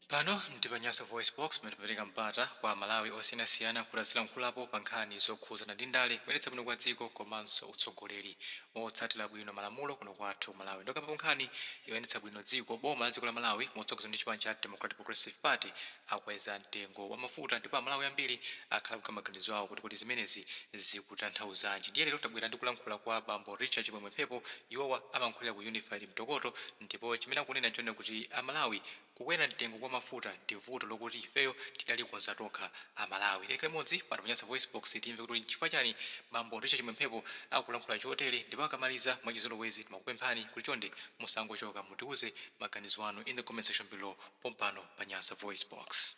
Pano ndi pa Nyasa VoiceBox pamene timapereka mpata kwa a Malawi osiyanasiyana kuti azilankhulapo pa nkhani zokhudzana ndi ndale, kuyendetsa bwino kwa dziko komanso utsogoleri wotsatira bwino malamulo kuno kwathu ku Malawi. Ndipokambapo nkhani yoyendetsa bwino dziko, Boma la dziko la Malawi motsogozedwa ndi chipani cha Democratic Progressive Party akweza mtengo wa mafuta ndipo a Malawi ambiri akhala akuika maganizo awo kuti kodi zimenezi zikutanthauzanji. Ndiye lero tabwera ndi kulankhula kwa Bambo Richard Chimwemwe Mphepo, iwowa amalankhulira ku Unified Mtokoto ndipo chimene akunena nchonena kuti a Malawi Kukwera mtengo kwa mafuta ndi vuto lokuti ifeyo tidalikonza tokha a Malawi. Tiyeni tikhale limodzi pano pa Nyasa VoiceBox timve kuti nchifukwa chani bambo Richard Chimwemwe Mphepo akulankhula chotere ndipo akamaliza mwachizolowezi timakupemphani kuti chonde musangochoka mutiuze maganizo anu in the comment section below pompano pa Nyasa VoiceBox.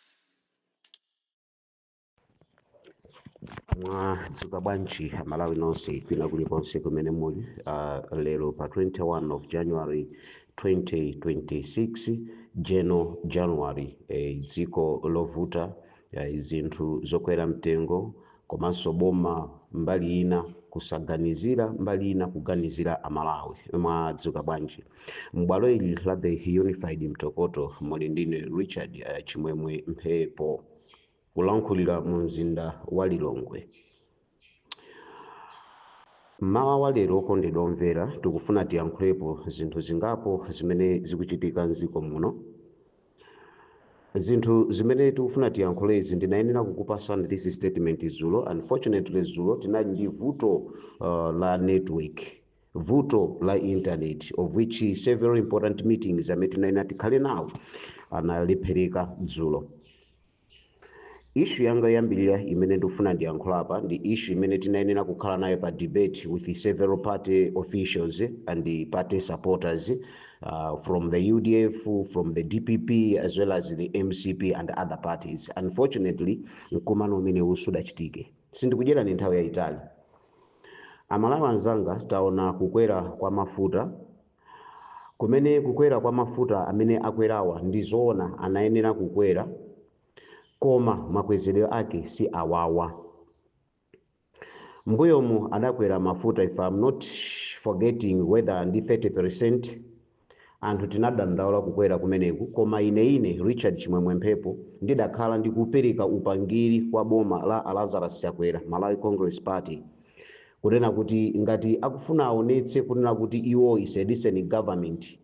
mwadzuka bwanji amalawi nonse kwina kulikonse kumene muli uh, lero pa 21 of january 2026 jeno january eh, dziko lovuta eh, zinthu zokwera mtengo komanso boma mbali ina kusaganizira mbali ina kuganizira amalawi mwadzuka bwanji m'bwalo ili la the unified mtokoto muli ndi ine richard eh, chimwemwe mphepo kulankhulira mu mzinda wa Lilongwe. Mmawa wa lero okondedwa omvera, tikufuna tiyankhulepo zinthu zingapo zimene zikuchitika m'dziko muno. Zinthu zimene tikufuna tiyankhulezi ndinayenera kukupasani this statement zulo. Unfortunately zulo tinali ndi vuto uh, la network vuto la internet of which several important meetings amene tinayenera tikhale nawo analephereka dzulo Issue yanga yoyambirira imene ndikufuna ndiyankhule apa ndi issue imene tinayenera kukhala nayo pa debate with several party officials and the party supporters uh, from the UDF, from the DPP as well as the MCP and other parties. Unfortunately, mkumano umenewu sudachitike. Sindikudyerani nthawi yayitali. Amalawi anzanga taona kukwera kwa mafuta Kumene kukwera kwa mafuta amene akwerawa ndi zoona anayenera kukwera koma makwezedwe ake si awawa. Mbuyomu adakwera mafuta if am not forgetting whether ndi 30%, anthu tinadandaula kukwera kumeneku koma ine ine Richard Chimwemwe Mphepo ndidakhala ndikupereka upangiri kwa boma la a Lazarus Chakwera, Malawi Congress Party. kunena kuti ngati akufuna aonetse kunena kuti iwo is a decent government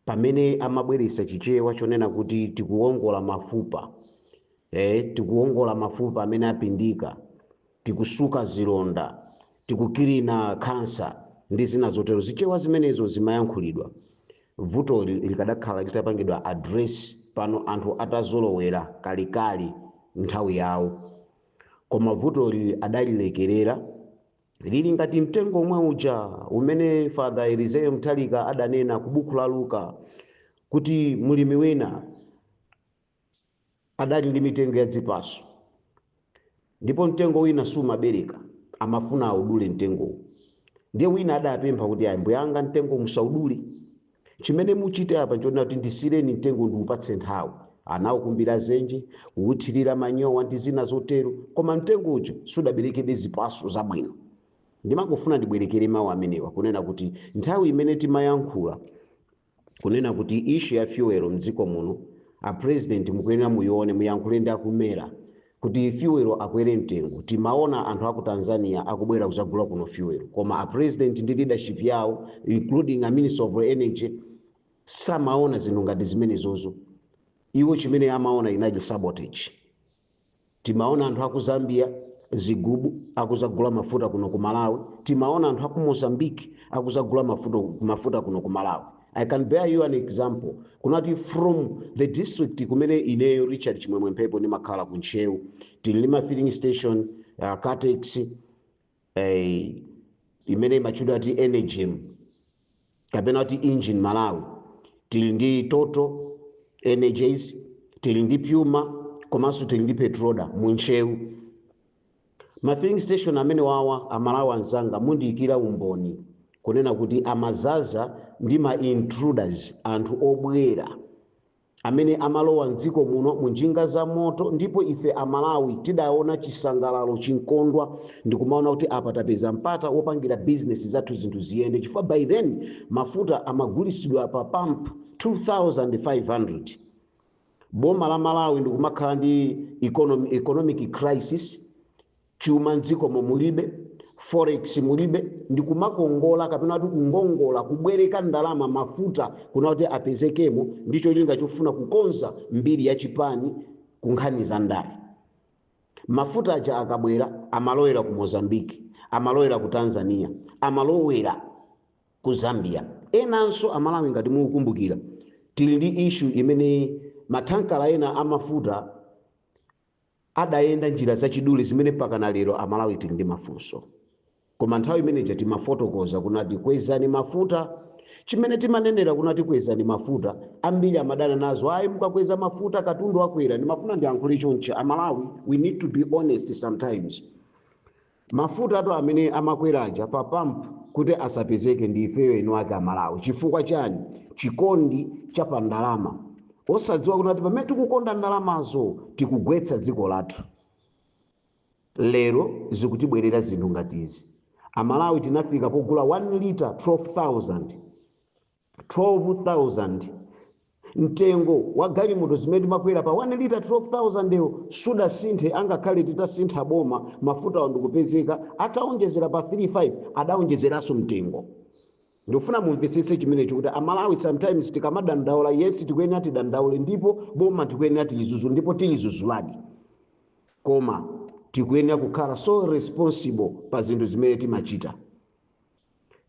pamene amabweretsa chichewa chonena kuti tikuwongola mafupa tikuwongola mafupa amene apindika tikusuka zilonda tikukilina khansa ndi zina zotero zichewa zimenezo zimayankhulidwa vutoli likadakhala litapangidwa address pano anthu atazolowera kalekale nthawi yawo Koma vutoli adalilekerera. Lili ngati mtengo omwe uja umene Father Elizeo Nthalika adanena ku buku la Luka kuti mlimi wina adali ndi mitengo ya dzipaso ndipo mtengo wina siumabereka amafuna audule mtengowo ndiye wina adapempha kuti ayi ambuyanga mtengo musaudule Chimene muchite apa nchonena kuti ndisiyireni mtengowu ndiupatse nthawi. Anaukumbira zenje, kuuthirira manyowa ndi zina zotero, koma mtengo uja sudaberekebe zipatso zabwino. Ndimafuna ndibwerekere mawu amenewa kunena kuti nthawi imene timayankhula kunena kuti issue ya fuel mdziko muno a president mukuyenera muyione muyankhule ndi a ku MERA. kuti fuel akwere mtengo timaona anthu aku Tanzania akubwera kuzagula kuno fuel koma a president ndi leadership yawo including a minister of energy samaona zinthu ngati zimenezozo iwo chimene amaona inali sabotage timaona anthu aku Zambia zigubu akuzagula mafuta kuno ku Malawi timaona anthu aku Mozambique akuzagula mafuta kuno ku Malawi i can bear you an example kunena kuti from the district kumene ineyo richard chimwemwe mphepo ndimakhala ku ntcheu tili ndi ma filling station uh, caltex imene imatchedwa ati energem kapena kuti engen malawi tili ndi total energies tili ndi puma komanso tili ndi petroda mu ntcheu Ma filling station amenewawa amalawi anzanga mundiikira umboni kunena kuti amazaza ndi ma intruders anthu obwera amene amalowa mdziko muno munjinga za moto ndipo ife amalawi tidaona chisangalalo chinkondwa ndikumaona kuti apa tapeza mpata wopangira business zathu zinthu ziyende chifukwa by then mafuta amagulisidwa pa pump 2500 boma la malawi ndikumakhala ndi economic crisis chuma mdzikomo mulibe forex mulibe ndikumakongola kapena kuti kungongola kubwereka ndalama mafuta kunena kuti apezekemo ndi cholinga chofuna kukonza mbiri ya chipani ku nkhani za ndale mafuta aja akabwera amalowera ku mozambique amalowera ku tanzania amalowera ku Zambia. Enanso a Malawi ngati mukukumbukira tili ndi issue imene ma thankala ena a mafuta adayenda njira zachidule zimene mpakana lero a Malawi tili ndi mafunso. Koma nthawi imene ija timafotokoza kunati kwezani mafuta, chimene timanenera kunati kwezani mafuta ambiri amadana nazo ayi mukakweza mafuta katundu akwera, ndimafuna ndiyankhule chonchi a Malawi we need to be honest sometimes. Mafutatu amene amakwera aja pa pump kuti asapezeke ndi ifeyo eni ake a Malawi chifukwa chani? Chikondi cha pa ndalama osadziwa kunena kuti pamene tikukonda ndalamazo tikugwetsa dziko lathu. Lero zikutibwerera zinthu ngati izi. A Malawi tinafika pogula 1 litre 12,000. 12,000, Mtengo wa galimoto zimene timakwera pa 1 litre 12,000 yo sudasinthe angakhale titasintha boma mafutawo ndikupezeka ataonjezera pa 3, 5 adaonjezeranso mtengo. Ndikufuna mumvetsetse chimenecho kuti a Malawi sometimes tikamadandaula yes tikuyenera tidandaule ndipo boma tikuyenera tilidzudzule ndipo tilidzudzuladi koma tikuyenera kukhala so responsible pa zinthu zimene timachita.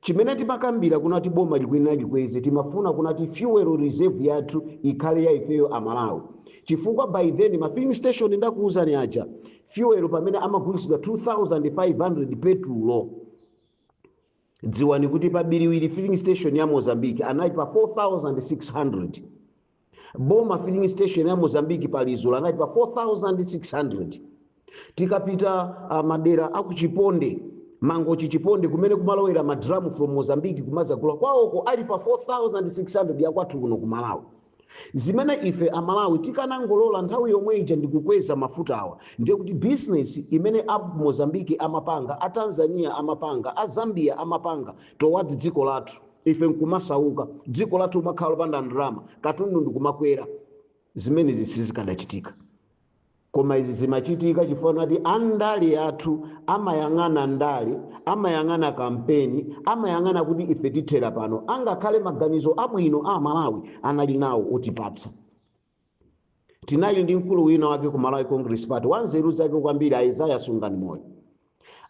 Chimene timakambira kunati boma likuyenera likweze timafuna kunati fuel reserve yathu ikhale ya ifeyo a Malawi chifukwa by then ma filling station ndakuuzani aja fuel pamene amagulitsidwa 2500 petulo dziwani kuti pa Biriwiri filling station ya Mozambique anali pa 4600 Border filling station ya Mozambique pa Lizulu anali pa 4600 tikapita uh, madera aku Chiponde Mangochi Chiponde kumene kumalowera madramu from Mozambique kumadzagula kwawoko ali pa 4600 ya kwathu kuno ku Malawi zimene ife amalawi tikanangolola nthawi yomwe ija ndikukweza mafuta awa ndiye kuti bizinesi imene a mozambiki amapanga a tanzania amapanga a zambia amapanga towards dziko lathu ife nkumasauka dziko lathu kumakhala lopanda ndalama katundu ndikumakwera zimenezi sizikadachitika koma izi zimachitika chifukwa choti andale athu amayang'ana ndale amayang'ana kampeni amayang'ana kuti ife tithera pano angakhale maganizo abwino a malawi anali nawo otipatsa tinali ndi mkulu wina wake ku malawi congress party wanzeru zake kwambiri a Isaiah Sunganimoyo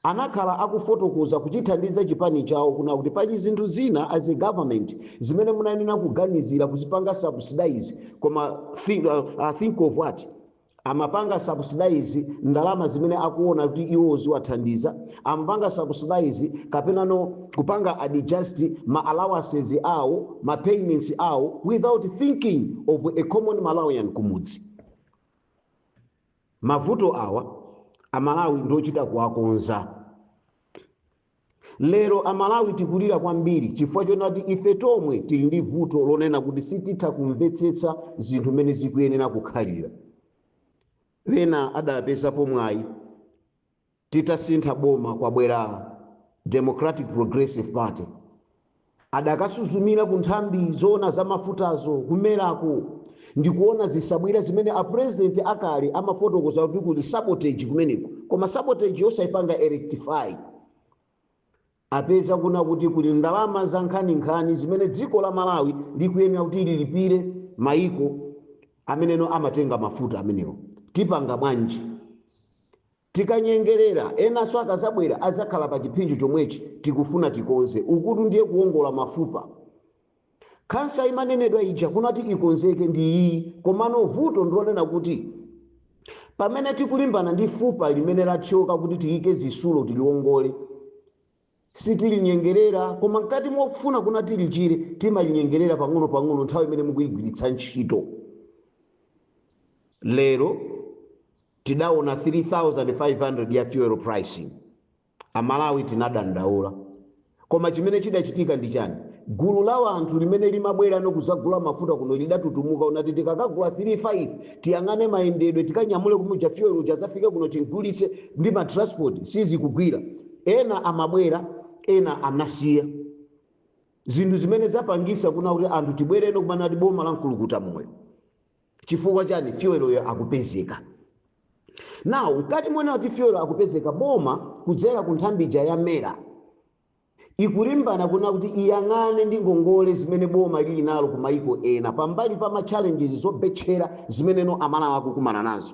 anakhala akufotokoza kuchithandiza chipani chawo kuna kuti pali zinthu zina as a government zimene munayenera kuganizira kuzipanga subsidize koma think, uh, think of what amapanga subsidize ndalama zimene akuona kuti iwo ziwathandiza amapanga subsidize kapenano kupanga adjust ma allowances awo ma payments awo without thinking of a common malawian kumudzi mavuto awa amalawi ndiochita kuwakonza lero amalawi tikulira kwambiri chifukwa chonati ife tomwe tili ndi vuto lonena kuti sititha kumvetsetsa zinthu mmene zikuyenera kukhalira ena adapezapo mwayi Titasintha boma kwabwera Democratic Progressive Party, adakasuzumira ku nthambi zoona za mafutazo ku MERA-ko ndi kuona zisabwira zimene a President akale amafotokoza kuti kuli sabotage kumeneko, koma sabotage-yo osaipanga rectify. Apeza kuna kuti kuli ndalama za nkhaninkhani zimene dziko la Malawi likuyenera kuti lilipire maiko ameneno amatenga mafuta amenewo. Tipanga bwanji? Tikanyengelera, enanso akazabwera azakhala pa chiphinjo chomwechi tikufuna tikonze. Ukutu ndiye kuwongola mafupa. Khansa imanenedwa ija kuna kuti ikonzeke ndi iyiyi komano vuto ndilonena kuti pamene tikulimbana ndi fupa limene lathyoka kuti tiyike zisulo tiliwongole, Sitilinyengerera, koma mkati mofuna kuna tilichire, timalinyengerera pang'ono pang'ono nthawi imene mukuigwiritsa ntchito. Lero tidaona 3500 ya fuel pricing. A Malawi tinadandaula. Koma chimene chidachitika ndi chani? Gulu la wanthu limene limabwerano kuzagula mafuta kuno lidatutumuka kunati tikakagula 3 5 tiyang'ane mayendedwe tikanyamule kumuja fuel uja azafike kuno timgulitse ndi ma transport sizikugwira. Ena amabwera, ena anasiya. Zinthu zimene zapangisa kuna kuti anthu tibwereno kumana kuti boma la mkulukuta moyo. Chifukwa chani fuel yo akupezeka. Now, mkati monena kuti fuel akupezeka boma kudzera ku nthambija ya mera ikulimbana kuna kuti iyang'ane ndi ngongole zimene boma lili nalo ku maiko ena pambali pa ma challenges zobetchera zimene no amalawi akukumana nazo.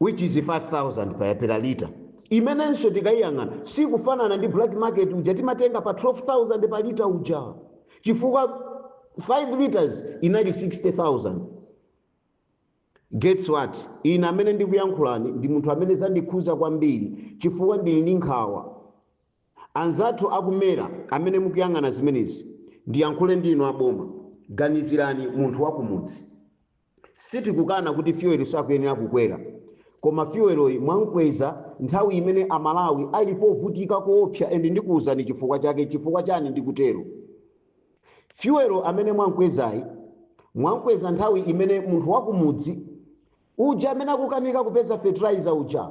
which is 5000 per per liter imenenso tikayiyang'ana sikufanana ndi black market uja timatenga pa 12000 pa liter uja chifukwa 5 liters inali 60000 guess what ine amene ndikuyankhulani ndi munthu amene zandikhuza kwambiri chifukwa ndili ndi nkhawa anzathu akumera amene mukuyang'ana zimenezi ndiyankhule ndi inu aboma ganizirani munthu wakumudzi Sitikukana kuti fuel sakuyenera kukwera koma fuel'yi mwamkweza nthawi imene a Malawi ali povutika koopsa and ndikuuzani chifukwa chake, nchifukwa chani ndikutero. Fuel amene mwamkwezayi mwamkweza nthawi imene munthu wakumudzi uja amene akukanika kupeza fertilizer uja,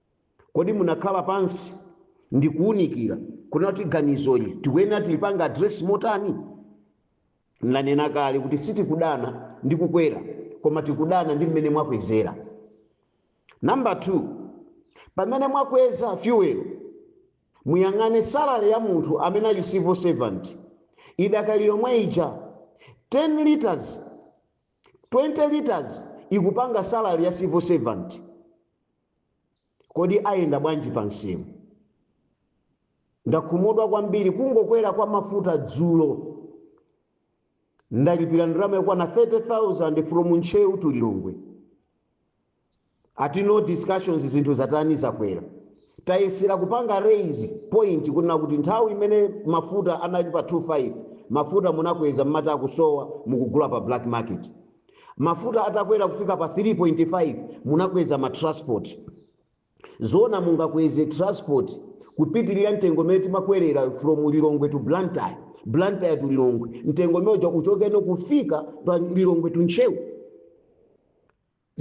Kodi munakhala pansi ndikuunikira kunena kuti ganizoli tikuyenera tilipanga address motani? Ndanena kale kuti sitikudana ndi kukwera koma tikudana ndi mmene mwakwezera. Number two, pamene mwakweza fuel muyang'ane salary ya munthu amene ali civil servant idakali yomwe ija 10 litres 20 litres ikupanga salary ya civil servant kodi ayenda bwanji pa msewu? Ndakhumudwa kwambiri kungokwera kwa mafuta dzulo ndalipira ndalama yakwana 30,000 from Ntcheu to Lilongwe. ati no discussions zinthu zatani zakwera tayesera kupanga raise point kunena kuti nthawi imene mafuta anali pa 25 mafuta munakweza mmati akusowa mukugula pa black market mafuta atakwera kufika pa 3.5 munakweza ma transport zoona mungakweze transport kupitirira mtengo umene timakwerera from lilongwe to blantyre blantyre to lilongwe mtengo umene uja uchoke uno kufika pa lilongwe to ntcheu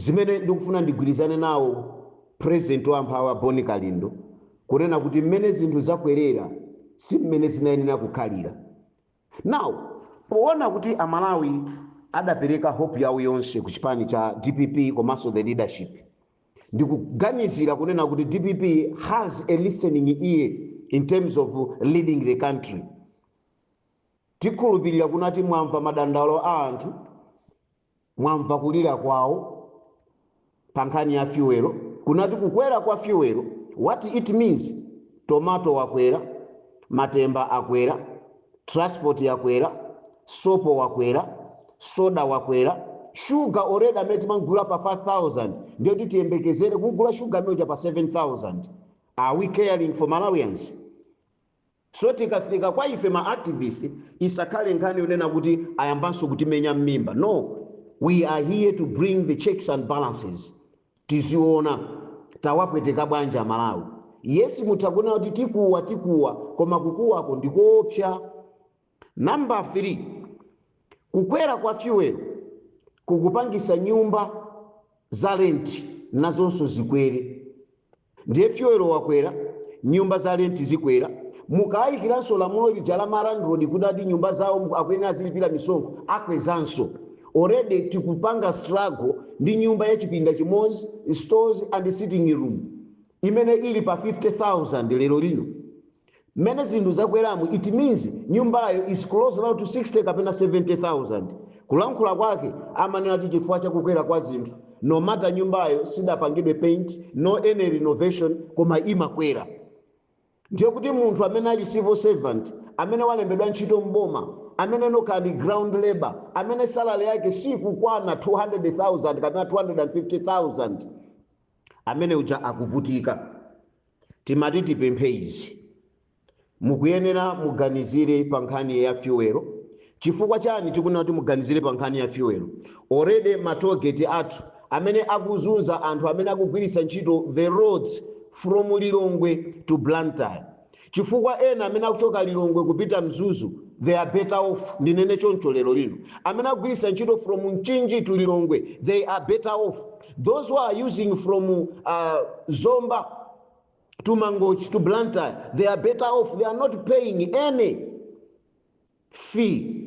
Zimene ndikufuna ndigwirizane nawo President wa amphawi a Bon Kalindo kunena kuti mmene zinthu zakwerera si mmene zinayenera kukhalira. Now poona kuti a Malawi adapereka hope yawo yonse ku chipani cha dpp komanso the leadership, ndikuganizira kunena kuti dpp has a listening ear in terms of leading the country. Tikhulupirira kunati mwamva madandaulo a anthu. Mwamva kulira kwawo pa nkhani ya fuel, kunati kukwera kwa fuel, what it means, tomato wakwera, matemba akwera, transport yakwera, sopo wakwera, soda wakwera, sugar already amene timamgula pa 5000 ndiye kuti tiyembekezere kugula sugar amene uja pa 7000, are we caring for Malawians? So tikafika kwa ife ma activist isakhale nkhani yonena kuti ayambanso kutimenya mmimba no we are here to bring the checks and balances tidziona tawapweteka bwanji a Malawi. Yes mutha kunena kuti tikuwa tikuwa koma kukuwako ndikoopsa Number 3, kukwera kwa fuel kukupangisa nyumba za rent nazonso zikwere. Ndiye fuel wakwera, nyumba za rent zikwera, mukayikiranso lamulo lija ma landlord kuti ati nyumba zawo akuyenera azilipira misonkho, akwezanso. Already tikupanga struggle ndi nyumba ya chipinda chimodzi, stores and sitting room imene ili pa 50,000 lero lino. Mmene zinthu zakweramu it means nyumbayo is close now to 60 kapena 70,000. Kulankhula kwake amanena kuti chifukwa cha kukwera kwa zinthu no matter nyumbayo sidapangidwe paint no any renovation koma imakwera. Ndiye kuti munthu amene ali civil servant, amene walembedwa ntchito m'boma, amene ndi wokhala ndi ground labour, amene salary yake sikukwana 200,000 kapena 250,000, amene uja akuvutika timati tipemphe izi mukuyenera muganizire pa nkhani ya fuel chifukwa chani tikunena kuti muganizire pa nkhani ya fuel already matogeti athu amene akuzunza anthu amene akugwiritsa ntchito the roads from lilongwe to blantyre chifukwa ena amene akuchoka Lilongwe kupita Mzuzu they are better off ndinene choncho lero lino. Amene akugwiritsa ntchito from Mchinji to Lilongwe they are better off those who are using from uh, Zomba to Mangochi to Blantyre they are better off they are not paying any fee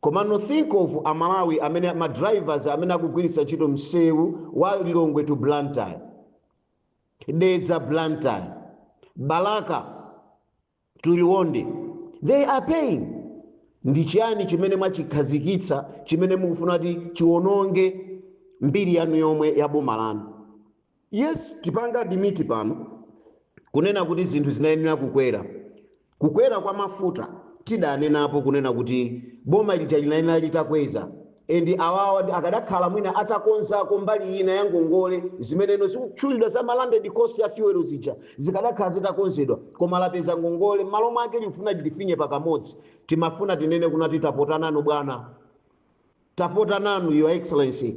komano think of amalawi amene madrivers amene akugwiritsa ntchito msewu wa lilongwe to blantyre Dedza, Blantyre, Balaka to Liwonde they are paying. Ndi chiyani chimene mwachikhazikitsa chimene mukufuna kuti chiwononge mbiri yanu yomwe ya boma lanu? Yes, tipanga admit pano kunena kuti zinthu zinayenera kukwera Kukwera kwa mafuta tidanenapo kunena kuti boma lija linayenera litakweza and awawa akadakhala mwina atakonzako mbali ina ya ngongole zimeneno zikutchulidwazi za ma landed cost ya fuel zija zikadakhala zitakonzedwa koma lapeza ngongole mmalo mwake likufuna litifinye pakamodzi timafuna tinene kunena kuti tapota nanu bwana tapota nanu your excellency.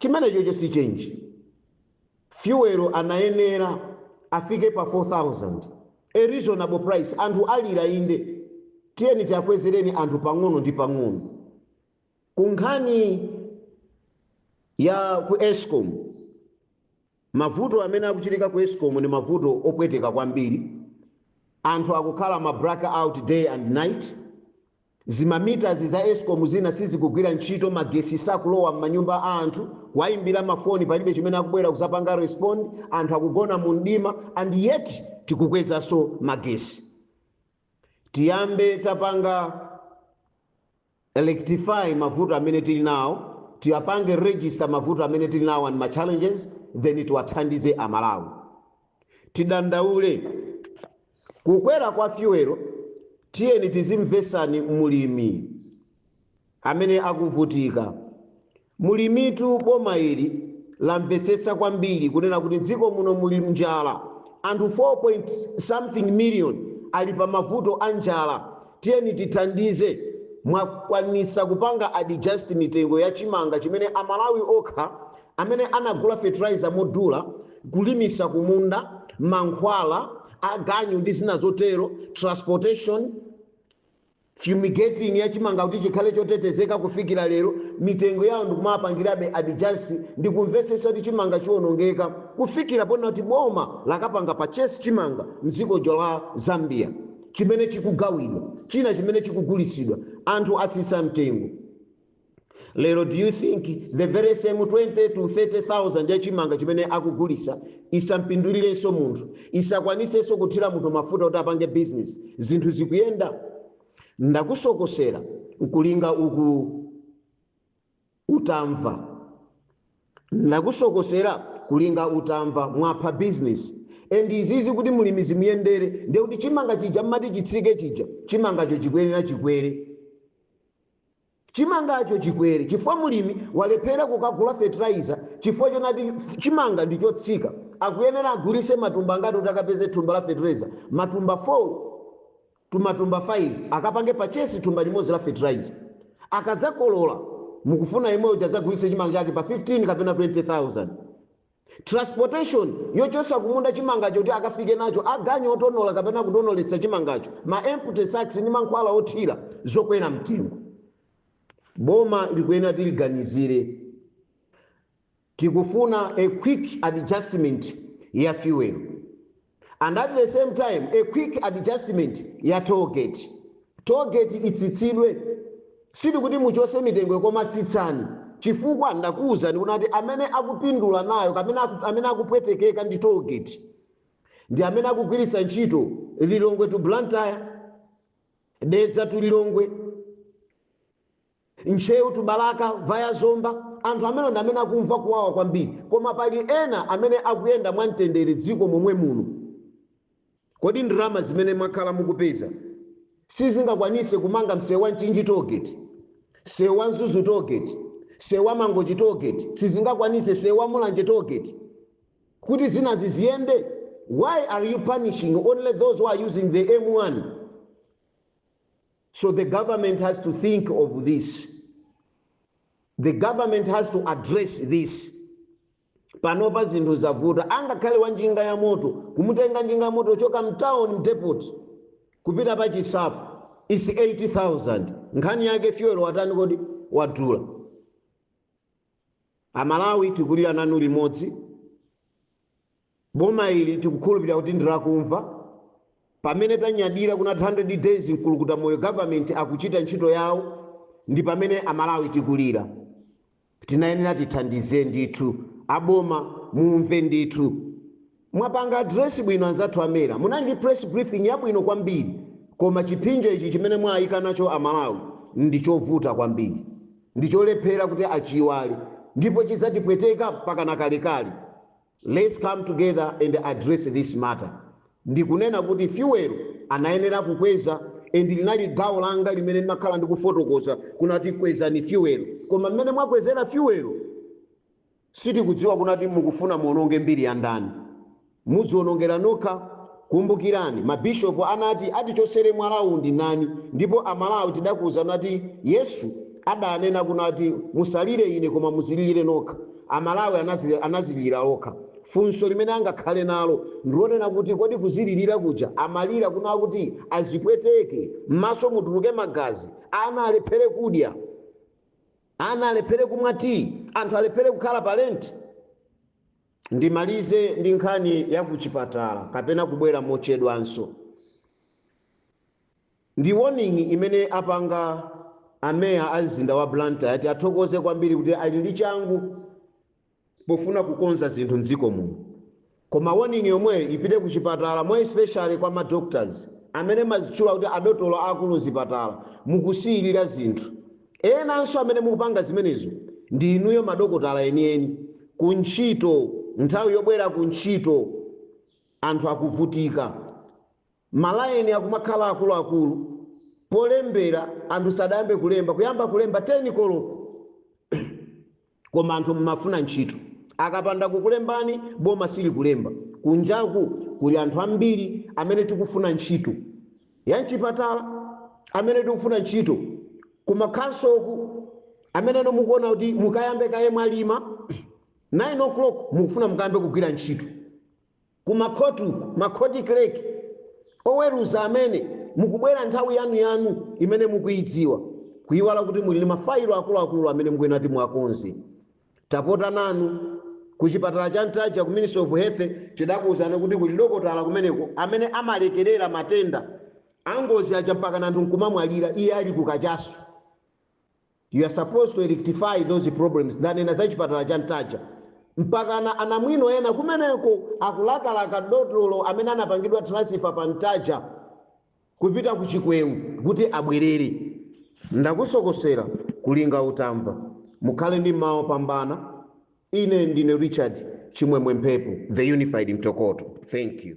Chimenechocho si change. Fuel anayenera afike pa 4000, a reasonable price. Anthu alira inde, tiyeni tiakwezereni anthu pang'ono ndi pang'ono. Ku nkhani ya ku Escom. Mavuto amene akuchitika ku escom ndi mavuto opweteka kwambiri. Anthu akukhala ma black out day and night. Zima meters za escom zina sizikugwira ntchito, magesi sakulowa mmanyumba a anthu. Kuwaimbira ma foni palibe chimene akubwera kuzapanga respond. Anthu akugona mu mdima and yet tikukwezaso magesi. Tiyambe tapanga. rectify mavuto amene tili nawo, tiwapange register mavuto amene tili nawo and ma challenges then tiwathandize a Malawi. Tidandaule kukwera kwa fuel, tiyeni tizimvesani mlimi amene akuvutika. Mulimitu boma ili lamvetsetsa kwambiri kunena kuti dziko muno muli njala anthu 4 point something million ali pa mavuto a njala tiyeni tithandize mwakwanitsa kupanga adjust mitengo ya chimanga chimene a Malawi okha amene anagula fertilizer modula kulimitsa kumunda mankhwala aganyu ndi zina zotero transportation Fumigating ya chimanga kuti chikhale chotetezeka kufikira lero mitengo yawo ndikumawapangirabe adjust ndikumvesesa kuti chimanga chiwonongeka kufikira ponena kuti boma lakapanga purchase chimanga mdzikojo la Zambia chimene chikugawidwa china chimene chikugulitsidwa anthu atsitsa mtengo lero do you think the very same 20 to 30000 ya chimanga chimene akugulisa isampindulirenso munthu isakwanisenso kuthira munthu mafuta kuti apange business zinthu zikuyenda ndakusokosera nkulinga utamva ndakusokosera nkulinga utamva mwapha business and izizi kuti mulimi zimuyendere ndekuti chimanga chija mmati chitsike chija chimangacho chikwerera chikwere Chimangacho chikwere chifukwa mulimi walephera kukagula fertilizer chifukwa chonati chimanga ndi chotsika. Akuyenera agulise matumba angati kuti akapeze thumba la fertilizer? Matumba 4 to matumba 5 akapange purchase thumba limodzi la fertilizer. Akadzakolola mukufuna yemwe uja adzagulise chimanga chake pa 15 kapena 20,000? Transportation yochosa kumunda chimangacho kuti akafike nacho, aganyu otonola kapena kutonoletsa chimangacho, ma empty sacks ndi mankhwala othira, zokwera mtengo. Boma likuyenera tiliganizire. Tikufuna a quick adjustment ya fuel. and at the same time a quick adjustment ya toll gate. Toll gate itsitsidwe sitikuti muchose mitengoyo koma tsitsani chifukwa ndakuwuzani kunati amene akupindula nayo kapena aku- amene akupwetekeka ndi toll gate ndi amene akugwiritsa ntchito Lilongwe to Blantyre, Dedza to Lilongwe, Ntcheu to Balaka via Zomba, anthu amenewo ndi amene akumva kuwawa kwambiri koma pali ena amene akuyenda mwa mtendere mdziko momwe muno. Kodi ndalama zimene mwakhala mukupeza sizingakwanitse kumanga mseu wa Mchinji tollgate, mseu wa Mzuzu tollgate, mseu wa Mangochi tollgate sizingakwanitse, mseu wa Mulanje tollgate kuti zinazi ziyende? Why are you punishing only those who are using the M1? So the government has to think of this. The government has to address this. Panopa zinthu zavuta. Angakhale wa njinga ya moto, kumutenga njinga ya moto kuchoka mtown mdepot kupita pa chisapo is 80,000. Nkhani yake fuel watani kodi wadula. Amalawi tikulira nanu limodzi. Boma ili tikukhulupilira kuti ndilakumva, pamene tanyadira kunati 100 days mkulukuta moyo government akuchita ntchito yawo ndipamene amalawi tikulira. Tinayenera tithandize ndithu. Aboma mumve ndithu. Mwapanga address bwino anzathu a MERA, munali ndi press briefing yabwino kwambiri koma chiphinjo ichi chimene mwaika nacho amalawi ndichovuta kwambiri ndicholephera kuti achiiwale ndipo chidzatipweteka mpakana kalekale. Let's come together and address this matter, ndikunena kuti fuel anayenera kukweza and linali gawo langa limene ndimakhala ndikufotokoza kunati kwezani fuel koma mmene mwakwezera fuel sitikudziwa kunati mukufuna muononge mbiri ya ndani mudzionongera nokha Kumbukirani, mabishopu anati atichosere mwalawu ndi ndani ndipo a Malawi tidakuuzani ati Yesu adanena kunati musalire ine koma muzililire nokha. A Malawi anazililira okha. Funso limene angakhale nalo ndilonena kuti kodi kuzililira kuja amalira kuna kuti azipweteke, mmaso mutuluke magazi, ana alephere kudya, ana alephere kumwa tea, anthu alephere kukhala pa rent? Ndimalize ndi nkhani ya kuchipatala kapena kubwera mochedwanso. Ndi warning imene apanga a meya a mzinda wa Blantyre tiathokoze kwambiri kuti ali ndi changu pofuna kukonza zinthu mdziko muno. Koma warning yomweyo ipite kuchipatala more especially kwa ma doctors amene mumazitchula kuti adotolo aakulu mzipatala mukusiyilira zinthu. Enanso amene mukupanga zimenezo ndi inuyo madokotala enieni, kuntchito, nthawi yobwera kuntchito anthu akuvutika, malayini akumakhala akuluakulu, polembera anthu sadayambe kulemba, kuyamba kulemba 10 koloko. koma anthu mumafuna ntchito akapanda kukulembani boma silikulemba kunjaku kuli anthu ambiri amene tikufuna ntchito ya mchipatala amene tikufuna ntchito kumakhansoku amene inu mukuona kuti mukayambe kaye mwalima 9 o'clock mukufuna mukayambe kugwira ntchito Ku ma court-wu, ma court clerk, oweruza amene, mukubwera nthawi yanu yanu imene mukuidziwa, kuiwala kuti muli ndi ma fayilo akuluakulu amene mukuyenera kuti muwakonze. Tapota nanu. Ku chipatala cha Ntaja ku Ministry of Health tidakuuzani kuti kuli dokotala kumeneko amene amalekelera matenda angozi aja mpakana anthu nkumamwalira iye ali ku kachasu. You are supposed to rectify those problems ndanena za chipatala cha Ntaja. Mpakana anamwino ena kumeneko akulakalaka dotolo amene anapangidwa transfer pa Ntaja kupita ku Chikweo kuti abwerere. Ndakusokosera kulinga utamva. Mukhale ndi mmawa opambana. Ine ndine Richard Chimwemwe Mphepo, The Unified Mtokoto. Thank you.